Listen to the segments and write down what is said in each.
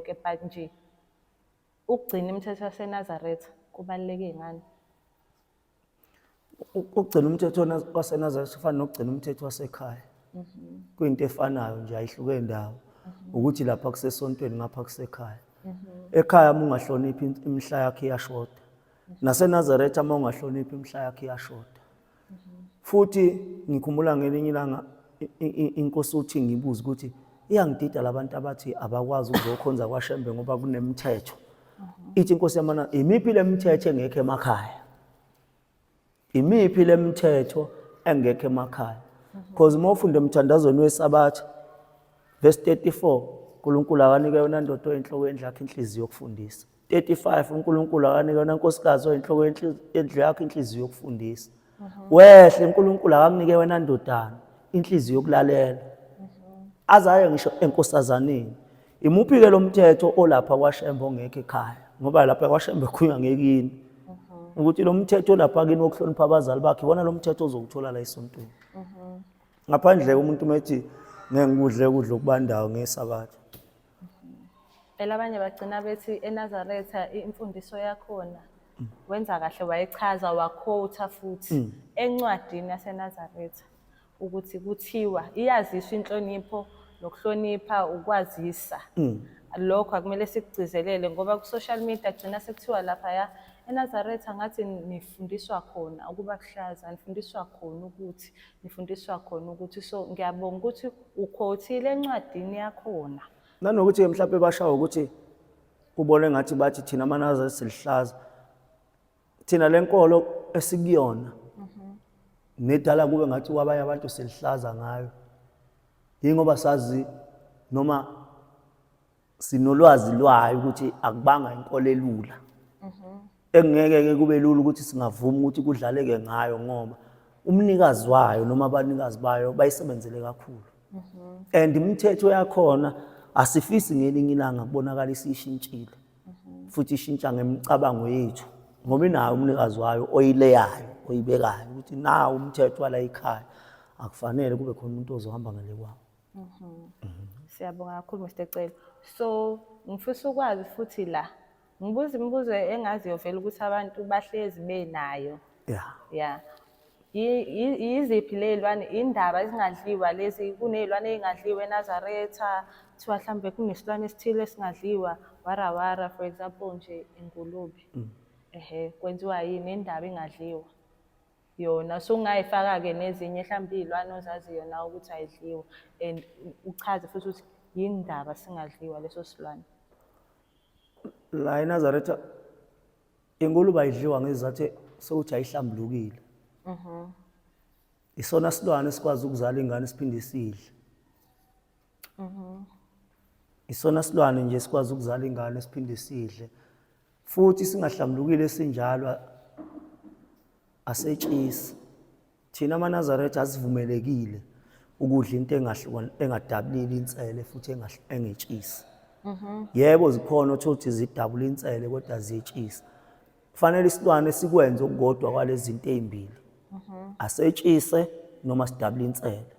yonke but nje ukugcina imithetho yaseNazaretha kubaluleke ngani? Ukugcina umthetho waseNazaretha ufana nokugcina umthetho wasekhaya. Mhm. Kuyinto efanayo nje ayihluke ndawo. Mhm. Ukuthi lapha kusesontweni ngapha kusekhaya. Mhm. Ekhaya uma ungahloniphi imihla yakho iyashoda. NaseNazaretha uma ungahloniphi imihla yakho iyashoda. futhi ngikhumbula ngelinye ilanga inkosi uthi ngibuze ukuthi iyangidida labantu abathi abakwazi ukuzokhonza kwashembe ngoba kunemithetho ithi inkosi yamana imiphi lemithetho engekho emakhaya imiphi lemithetho engekho emakhaya because uma ufunda emthandazweni wesabatha verse 34 uNkulunkulu akanike yona ndodo enhloko endlakhe inhliziyo yokufundisa 35 uNkulunkulu akanika yona nkosikazi oyinhloko yendlu yakho inhliziyo yokufundisa mhm. wehle uNkulunkulu akamnike wena ndodana inhliziyo yokulalela mhm. azayo ngisho enkosazaneni imuphi ke lomthetho olapha kwaShembe ongekho ekhaya ngoba lapha kwaShembe khuywa ngekini mhm. ukuthi lo mthetho olapha kini wokuhlonipha abazali bakhe wona lo mthetho ozokuthola la esontweni ngaphandle umuntu methi ngengikudle ukudla okubandayo ngesabatha Phela abanye bagcina bethi eNazaretha imfundiso yakhona wenza kahle wayechaza wakhotha futhi mm. encwadini yaseNazaretha ukuthi kuthiwa iyaziswa inhlonipho nokuhlonipha ukwazisa mm. lokho akumele sikugcizelele ngoba ku-social media kugcina sekuthiwa laphaya eNazaretha ngathi nifundiswa khona ukuba kuhlaza nifundiswa khona ukuthi ngifundiswa khona ukuthi so ngiyabonga ukuthi ukhothile encwadini yakhona nanokuthi ke mhlawumbe bashawa ukuthi kubone ngathi bathi thina manaza silihlaza thina lenkolo esikuyona mhm. nedala kube ngathi kwabanye abantu silihlaza ngayo yingoba sazi noma sinolwazi lwayo ukuthi akubanga inkolo elula mhm. engeke-ke kube lula ukuthi singavuma ukuthi kudlaleke ngayo ngoba umnikazi wayo noma abanikazi bayo bayisebenzele kakhulu mhm. and imithetho yakhona asifisi ngelinye ilanga kubonakala isishintshile mhm. futhi ishintsha ngemicabango yethu ngoba inayo umnikazi wayo oyileyayo oyibekayo ukuthi nawo umthetho wala ikhaya akufanele kube khona umuntu ozohamba ngale kwabo Mhm. mhm. Siyabonga kakhulu Mr Celo. So ngifisa ukwazi futhi la ngibuza imibuzo engaziyo vele ukuthi abantu bahlezi benayo. Yeah. Yeah. Yiziphi ley'lwane, indaba ezingadliwa lezi, kuney'lwane ey'ngadliwa eNazaretha, kuthiwa mhlawumbe kunesilwane esithile esingadliwa, warawara for example nje ingulube. Mm. Ehhe, kwenziwa yini, indaba ingadliwa. yona so ungayifaka-ke nezinye mhlawumbe iy'lwane ozazi yona ukuthi ayidliwa and uchaze futhi ukuthi yini ndaba singadliwa leso silwane la enazaretha ingulube ayidliwa ngezizathu sokuthi ayihlambulukile isona silwane esikwazi ukuzala ingane siphinde isidle Mhm. Isona silwane nje sikwazi ukuzala ingane siphinde sidle. Futhi singahlambulukile sinjalo a- asetshisi. Thina amaNazaretha asivumelekile ukudla into engahlukan- engadabulile insele futhi engahl- engetshisi. Yebo zikhona othola ukuthi zidabula insele kodwa ziyetshisa. Kufanele isilwane sikwenze okukodwa kwalezi zinto ezimbili. Asetshise noma sidabule insele.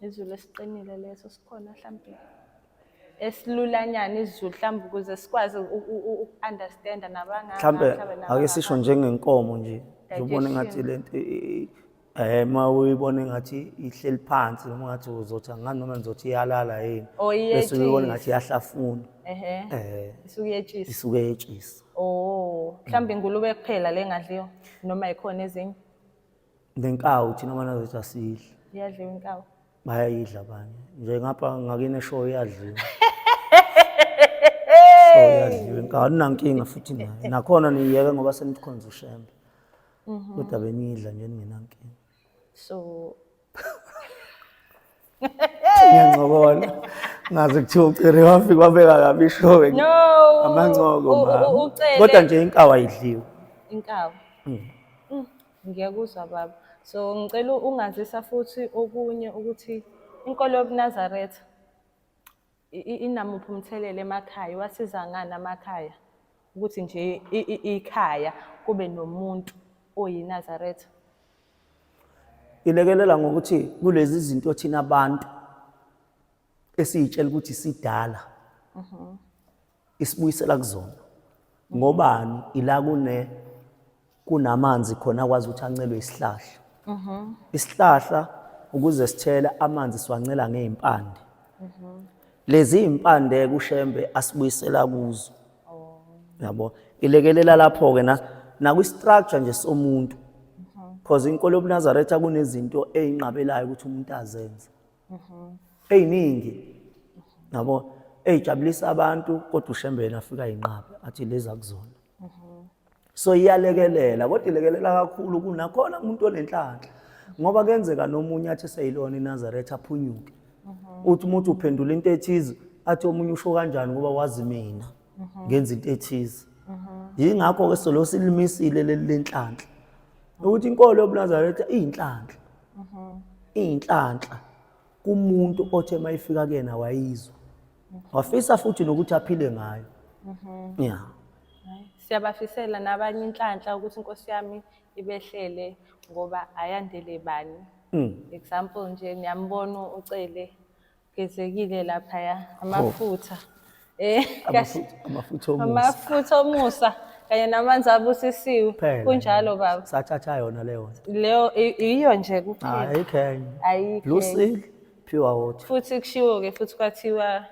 Izulu esiqinile leso sikhona mhlampe esilulanyana izulu mhlawumbe ukuze sikwazi uku-understanda nabangaka mhlawumbe ake sisho njengenkomo nje ngibona engathi lento Eh ma uyibona engathi ihleli phansi noma ngathi uzothi angani noma ngizothi iyalala yini. Oh, iyetshisa. Bese uyibona ngathi iyahlafuna. Ehhe. Eh. Isuke yetshisa. Isuke yetshisa. Oh, mhlawumbe ingulube kuphela le ngadliwa noma ikhona ezinye. Nenkawu thina mana zethu asidli. Iyadliwa inkawu. Bayayidla abanye. Nje ngapha ngakine show iyadliwa. Show iyadliwa inkawu. Aninankinga futhi nayo. Nakhona niyeke ngoba senikhonza ushembe. Mhm. kodwa bengiyidla nje ningenankinga so ngiyancokola ngaze kuthiwa ucere wafika wabeka kabi ishowe no amancoko U- u- mama ucele kodwa nje inkawu ayidliwe inkawu Mm. Mm, ngiyakuzwa baba so ngicela ungazisa futhi okunye ukuthi inkolo yobunazaretha inamuphi umthelela emakhaya iwasiza ngani amakhaya ukuthi nje ikhaya kube nomuntu oyinazaretha ilekelela ngokuthi kulezi zinto thina abantu esiyitshela ukuthi sidala mhm. isibuyisela kuzona ngobani ila kune kunamanzi khona akwazi ukuthi ancelwe isihlahla mhm. isihlahla ukuze sithele amanzi siwancela ngey'mpande mhm. lezi y'mpande kushembe asibuyisela kuzo oh. yabo ilekelela lapho-ke nakwi-structure nje somuntu mhm. because inkolo yobunazaretha kunezinto eyinqabelayo ukuthi umuntu azenze mhm. eyiningi nabo eyijabulisa abantu kodwa ushembeni afika yinqaba athi leza kuzona mhm. so iyalekelela kodwa ilekelela kakhulu kunakhona umuntu onenhlanhla ngoba kenzeka nomunye athi seyilona inazaretha aphunyuke mhm. uthi umuntu uphendula into ethize athi omunye usho kanjani ngoba wazi mina ngenza into ethize yingakho-ke solo silimisile leli lenhlanhla ukuthi inkolo yobunazaretha iyinhlanhla iyinhlanhla kumuntu othe mayifika kuyena wayizwa wafisa futhi nokuthi aphile ngayo ya siyabafisela nabanye inhlanhla ukuthi inkosi yami ibehlele ngoba ayandele bani Mm. example nje niyambona ucele Gezekile laphaya oh. amafutha. Eh kahle. Amafutha omusa. Amafutha omusa kanye namanzi abusisiwe. Kunjalo baba. Satshatsha yona leyo. Leyo iyo nje kuphela. Hayi khenye. Ayikho. Blue seal pure water. Futhi kushiwo ke futhi kwathiwa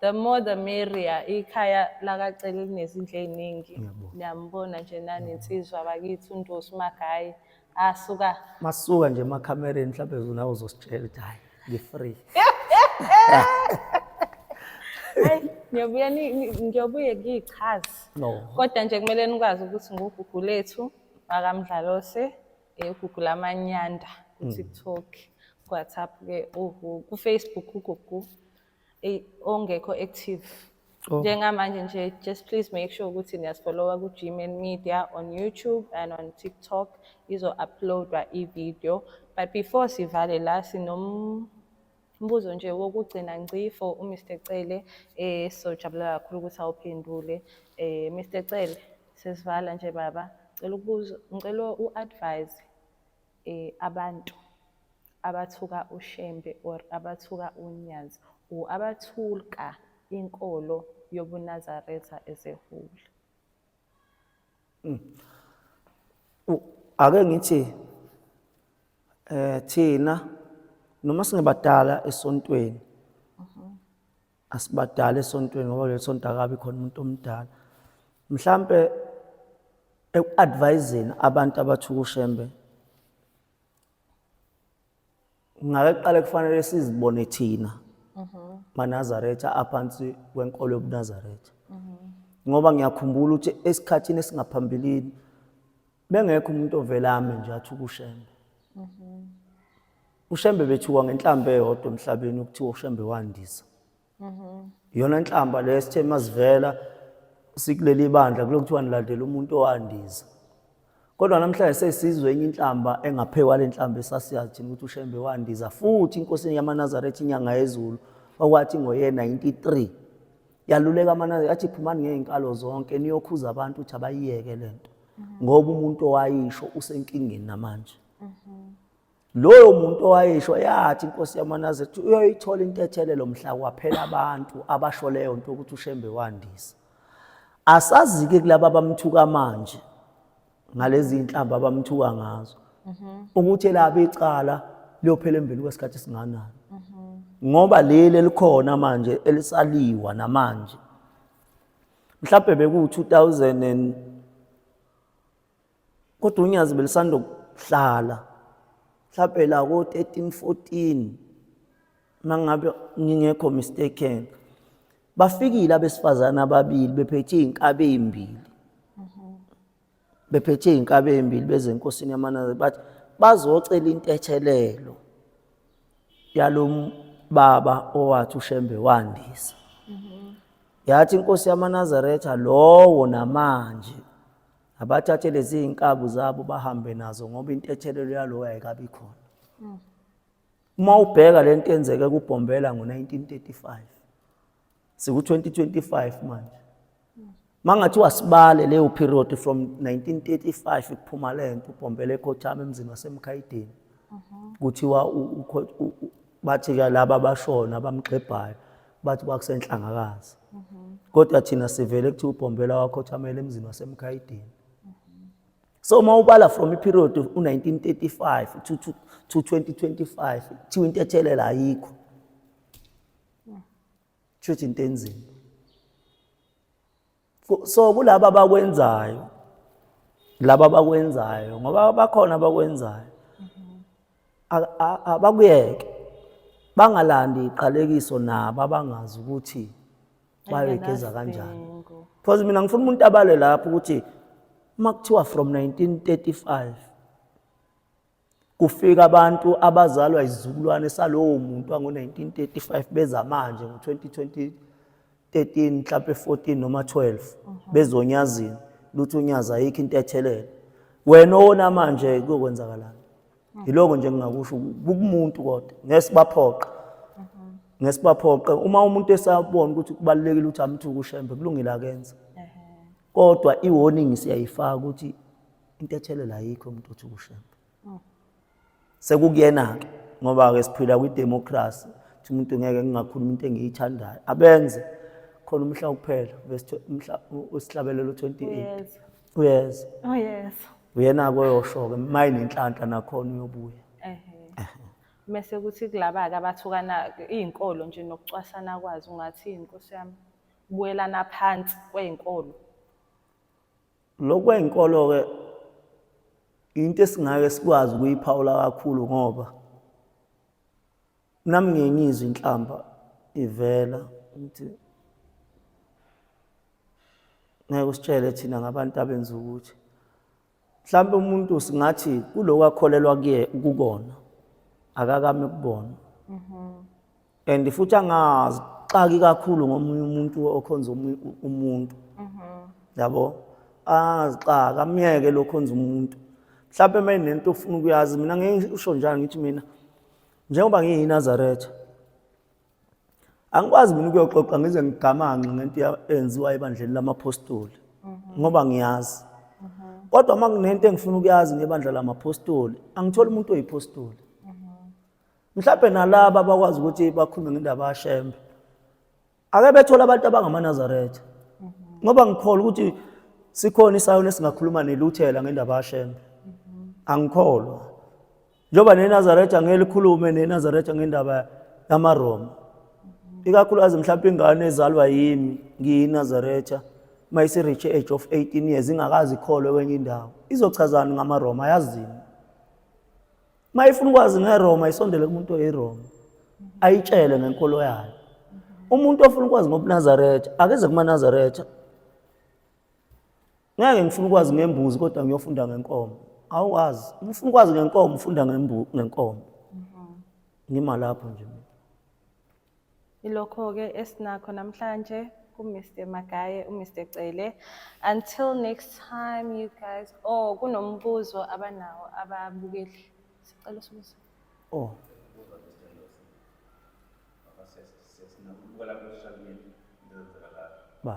the more the merrier ikhaya lakacela linezindlu eziningi. Ngiyambona nje nani insizwa bakithi uNdosi Magayi. Ah suka. Masuka nje ema camereni mhlawumbe unawo uzositshela ukuthi hayi ngi free. Hayi ngiyobuya ni- ni- ngiyobuye ngiyichazi. No. Kodwa nje kumele nikwazi ukuthi ngugugu lethu wakamdlalose eh, ugugu lamanyanda ku-tiktok ku-whatsapp ke ugu- ku-facebook ugugu Ey, ongekho active Oh. njengamanje nje just please make sure ukuthi niyasifollowa ku-gman media on youtube and on tiktok izo-uploadwa i-video but before sivale la sinombuzo nje wokugcina ngci for umr cele um sizojabulela kakhulu ukuthi awuphendule um mr cele sesivala nje baba cela ukubuza ngicela u-advise eh abantu abathuka uShembe or abathuka uNyazi or abathulka inkolo yobuNazaretha ezehule. Hmm. Ake ngithi eh thina noma singabadala esontweni asibadala esontweni ngoba kuleli sonto akabi khona umuntu omdala mhlampe eku-adviseni abantu abathuka ushembe ngake kuqale kufanele sizibone thina manazaretha aphansi kwenkolo yobunazaretha ngoba ngiyakhumbula ukuthi esikhathini esingaphambilini bengekho umuntu ovelame nje athi ukushembe mhm. ushembe bethiwa ngenhlamba eyodwa emhlabeni ukuthiwa ushembe wandisa mhm. yona inhlamba le sithe masivela sikuleli bandla kulokuthiwa nilandela umuntu owandisa kodwa namhlanje sesizwe enye inhlamba engaphekwa le nhlamba esasiyazi thina ukuthi ushembe wandiza futhi inkosini yamanazaretha inyanga yezulu okwathi ngoye-93 yaluleka amanani athi phumani ngey'nkalo zonke niyokhuza abantu ukuthi abayiyeke le nto mhm. ngoba umuntu owayisho usenkingeni namanje mhm. loyo muntu owayisho yathi inkosi yamanazi ethi uyoyithola intethelelo mhla kwaphela abantu abasho leyo nto ukuthi ushembe wandisa asazi-ke kulaba abamthuka manje ngalezi inhlamba abamthuka ngazo mhm. ukuthi elabe icala liyophela embili kwesikhathi esinganani mhm. ngoba leli elikhona manje elisaliwa namanje mhlawumbe beku-2000 kodwa unyazi belisanda ukuhlala mhlawumbe la ko-13 14 mangabe ngingekho mistaken bafikile abesifazane ababili bephethe iy'nkabi ey'mbili bephethe iy'nkabi ey'mbili bezenkosini yamanaziri bathi bazocela intethelelo yalo baba owathi ushembe wandisa yathi inkosi yamanazaretha lowo namanje abathathe lezi iy'nkabu zabo bahambe nazo ngoba intethelelo yalowo ayikabi khona Uma ubheka le nto yenzeke kuBhombela ngo-1935 siku-2025 manje uma ngathiwa sibale leyo period from 1935 kuphuma le nto uBhombela ekhothama emzini waseMkhayidini mhm. kuthiwa bathi-ke laba abashona abamxebhayo bathi kwakusenhlangakazi mhm. kodwa thina sivele kuthiwa uBhombela wakhothamela emzini waseMkhayidini so uma ubala from iperiod u-1935 to, to, to 2025 kuthiwa into ethelela ayikho kushuthi into enzima so kulaba abakwenzayo laba abakwenzayo ngoba bakhona abakwenzayo abakuyeke bangalandi iqalekiso nabo abangazi ukuthi bayoyigeza kanjani because mina ngifuna umuntu abale lapho ukuthi uma kuthiwa from 1935 kufika abantu abazalwa izizukulwane salowo muntu wango-1935 beza manje ngo-2013 mhlawumpe 14 noma 12 mhm. bezonyazini luthi unyazi ayikho into ethelele wena owona manje kuyokwenzakala yiloko nje ngingakusho kukumuntu kodwa ngesibaphoqa ngesibaphoqa uma umuntu esabona ukuthi kubalekile ukuthi amthuke ushembe kulungile akenze kodwa i warning siyayifaka ukuthi into ethelela ayikho umuntu othi ushembe mm. sekukuyena ke ngoba ke siphila kwi democracy ukuthi umuntu ngeke ngingakhuluma into engiyithandayo abenze khona umhla kuphela bese umhla usihlabelelo 28 uyeza oh yes uyena koyosho ke mayi nenhlanhla nakhona uyobuya ehe mase kuthi kulaba ke abathukana izinkolo nje nokucwasana kwazi ungathi inkosi yami kubuyelana phansi kwezinkolo lokwezinkolo ke into esingake sikwazi ukuyiphawula kakhulu ngoba nami ngiye ngizwe inhlamba ivela ukuthi ngeke usitshele thina ngabantu abenza ukuthi mhlawumbe umuntu singathi kuloko akholelwa kuye kukona akakame kubona mm-hmm. and futhi angazi xaki kakhulu ngomunye umuntu okhonza umuntu mm-hmm. yabo azixaka amyeke lokhonza umuntu mhlawumbe uma inento ofuna ukuyazi mina ngeke usho njani ngithi mina njengoba ngiyiNazaretha angikwazi mina ukuyoxoxa ngize ngigamanxe ngento eyenziwa ebandleni lamaphostoli mhm. ngoba ngiyazi mhm. kodwa uma kunento engifuna ukuyazi ngebandla lamaphostoli angitholi umuntu oyiphostoli mhm. mhlawumbe nalaba bakwazi ukuthi bakhulume ngendaba yashembe ake bethole abantu abangamaNazaretha ngoba ngikholwa ukuthi sikhona isayona esingakhuluma neluthela ngendaba yashembe angikholwa njengoba neNazaretha ngeke likhulume neNazaretha ngendaba yamaRoma ikakhulukazi mhlawumbe ingane ezalwa yimi ngiyiNazaretha mayisireach age of 18 years ingakazi ikholwe kwenye indawo izochazani ngamaRoma yazini uma ifuna ukwazi ngeroma isondele kumuntu oyiroma ayitshele ngenkolo yayo umuntu ofuna ukwazi ngobunazaretha akeze kumanazaretha ngeke ngifuna ukwazi ngembuzi kodwa ngiyofunda ngenkomo awuwazi ngifuna ukwazi ngenkomo ufunda ngenkomo ngima lapho nje Ilokho-ke esinakho namhlanje ku-Mr Magaye, u-Mr Cele. Until next time you guys. Oh, kunombuzo abanawo ababukeli. Sicela usibuze. Oh. Ba.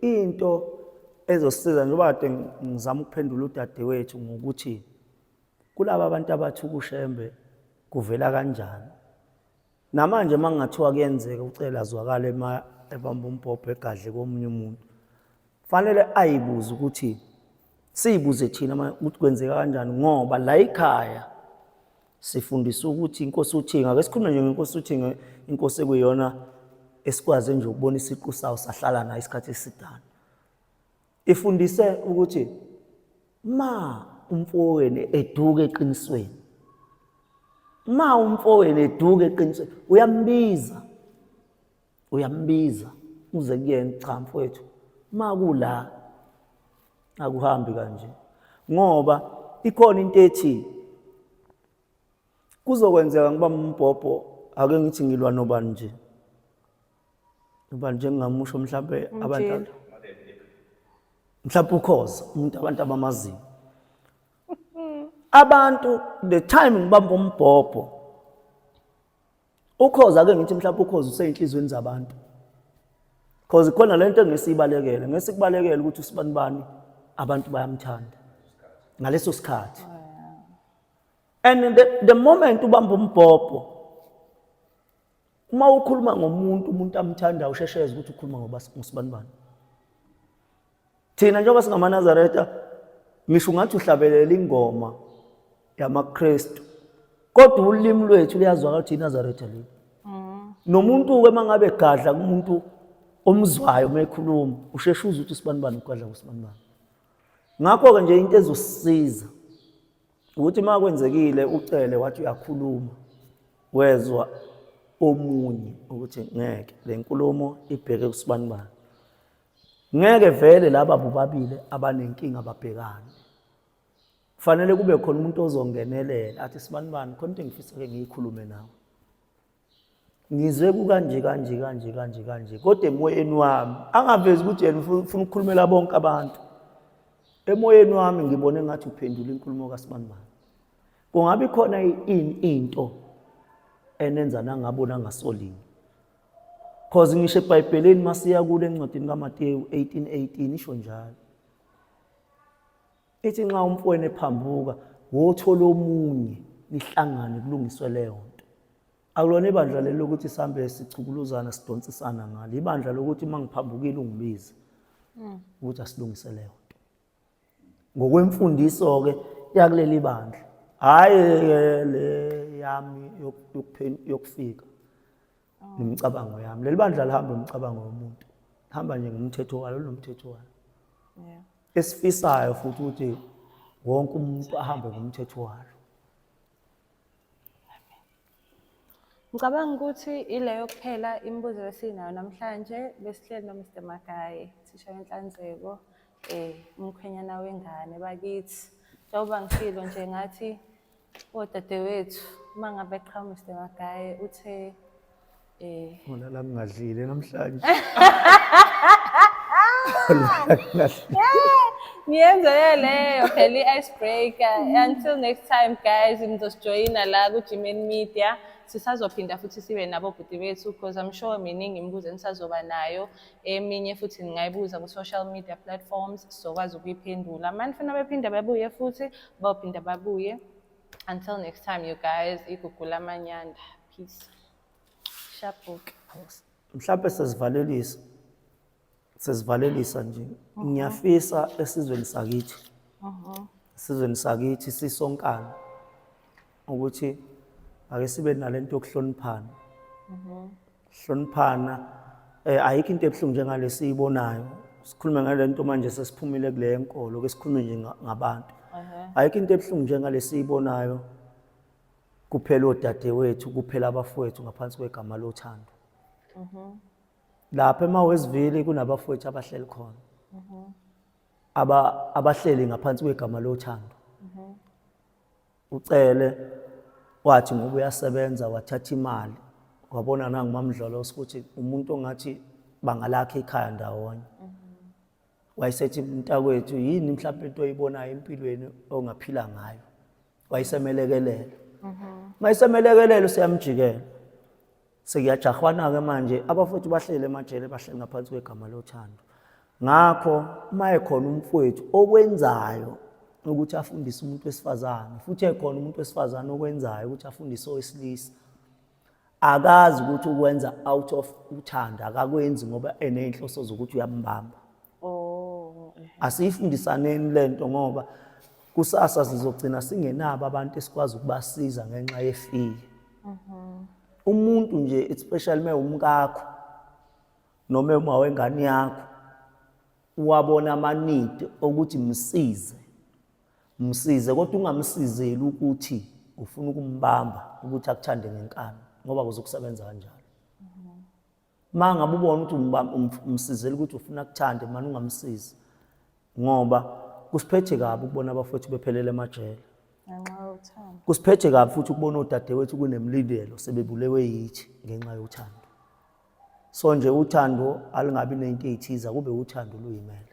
into ezosiza njengoba kade ngizama ukuphendula udadewethu ngokuthi kulaba abantu abathi ukushembe kuvela kanjani namanje uma kungathiwa kuyenzeka ucela azwakale uma ebamba umbhobho egadle komunye umuntu fanele ayibuze ukuthi siyibuze thina ukuthi kwenzeka kanjani ngoba la ikhaya sifundiswa ukuthi inkosi uthinga ake sikhulume nje ngenkosi uthinga inkosi ekuyona esikwaze nje ukubona isiqu sawo sahlala nayo isikhathi esidana ifundise ukuthi ma umfowenu eduke eqinisweni ma umfowenu eduke eqinisweni uyambiza uyambiza uze kuyena cha mfowethu makula akuhambi kanje ngoba ikhona into ethi kuzokwenzeka ngiba umbhobho ake ngithi ngilwa nobani nje ubani njengingamusho mhlawumbe abantu mhlawumbe ukhoza umuntu abantu abamaziyo abantu the time ngibamba umbhobho Ukhozi ake ngithi mhlawumbe ukhozi useyinhlizweni zabantu. Cause khona lento engisibalekele, ngesikubalekele ukuthi usibani bani abantu bayamthanda. Ngaleso sikhathi. Oh, And the, the moment ubamba umbhobho uma ukhuluma ngomuntu umuntu amthandayo ushesheze ukuthi ukhuluma ngoba ngusibani bani. Thina njengoba singamaNazaretha ngisho ungathi uhlabelela ingoma yamaKristu kodwa ulimi lwethu luyazwakala ukuthi iNazaretha leli. Mm. Nomuntu ke mangabe gadla kumuntu omzwayo uma ekhuluma usheshe uze ukuthi usibanibani ugadla kusibanibani. Ngakho-ke nje into ezosisiza ukuthi uma kwenzekile ucele wathi uyakhuluma wezwa omunye ukuthi ngeke le nkulumo ibheke kusibanibani ngeke vele laba bobabili abanenkinga babhekane kufanele kube khona umuntu ozongenelela athi sibani bani khona into engifisa ke ngiyikhulume nawe ngizwe kukanje kanje kanje kanje kanje kodwa emoyeni wami angavezi ukuthi yena ufuna ukukhulumela bonke abantu emoyeni wami ngibone ngathi uphendula inkulumo kasibanibani kungabe khona ini into enenza nangabona ngasolini Cause ngisho eBhayibhelini masiya kule encwadini kaMateyu 18:18 isho njalo. Ithi nxa umfowenu ephambuka, wothola omunye nihlangane kulungiswe leyo nto. Akulona ibandla lelo ukuthi sihambe sichukuluzana sidonsisana ngalo. Ibandla lokuthi uma ngiphambukile ungibize. Hmm. Ukuthi asilungise leyo nto. ngokwemfundiso-ke yakuleli bandla hhayi le yami yokufika nemicabango yami leli bandla lihambe umcabango womuntu lihamba nje ngomthetho walo linomthetho walo esifisayo futhi ukuthi wonke umuntu ahambe ngomthetho walo Ngicabanga ukuthi ileyo kuphela imibuzo esinayo namhlanje besihleli no Mr Magaye thisha wenhlanzeko eh umkhwenyana wengane bakithi njengoba ngisilo nje ngathi odadewethu uma ngabe qhamuka Mr Magaye uthe Eh. Wala la ngingadlile namhlanje. Ngiyenze leyo phela i-ice breaker. Until next time guys, nizosijoyina la ku-Gmain Media. sisazophinda futhi sibe nabo bhuti bethu because I'm sure miningi imibuzo enisazoba nayo eminye futhi ningayibuza ku-social media platforms sizokwazi ukuyiphendula mani funa bephinde babuye futhi bawuphinda babuye until next time you guys igugula amanyanda peace Shabhuke. Mhlawumbe sesivalelisa sesivalelisa nje ngiyafisa esizweni sakithi esizweni sakithi sisonkana ukuthi ake sibe nalento yokuhloniphana hloniphana eh ayikho into ebuhlungu njengale siyibonayo sikhulume ngalento manje sesiphumile kule yenkolo ke sikhulume nje nga- ngabantu ayikho into ebuhlungu njengale siyibonayo kuphela odadewethu kuphela abafowethu ngaphansi kwegama lothando mhm. lapha emawesivili kunabafowethu abahleli khona mhm. aba abahleli ngaphansi kwegama lothando mhm. ucele wathi ngoba uyasebenza wathatha imali wabona nangumamdlolo ukuthi umuntu ongathi bangalakha ikhaya ndawonye wayesethi mntakwethu yini mhlawumbe into oyibonayo empilweni ongaphila ngayo wayisemelekelela mayisemelekelela useyamjikela sekuyajahwana-ke manje abafowethu bahlele emajele bahleli ngaphansi kwegama lothando ngakho uma ekhona umfowethu okwenzayo ukuthi afundise umuntu wesifazane futhi ekhona umuntu wesifazane okwenzayo ukuthi afundise owesilisa akazi ukuthi ukwenza out of uthando akakwenzi ngoba eney'nhloso zokuthi uyambamba oh, asiyifundisaneni le nto ngoba kusasa sizogcina singenabo abantu esikwazi ukubasiza ngenxa yefiye mhm. umuntu nje especially uma umkakho noma uma wengane yakho wabona amanidi okuthi msize Msize kodwa ungamsizeli ukuthi ufuna ukumbamba ukuthi akuthande ngenkani ngoba kuzokusebenza kanjalo. Uma ngabe ubona ukuthi umsizela ukuthi ufuna kuthande mani ungamsizi ngoba kusiphethe kabi ukubona abafowethu bephelele emajele. Kusiphethe kabi futhi ukubona odadewethu kunemlindelo sebebulewe yithi ngenxa yothando. So nje uthando alingabi nento eyithiza kube uthando luyimele.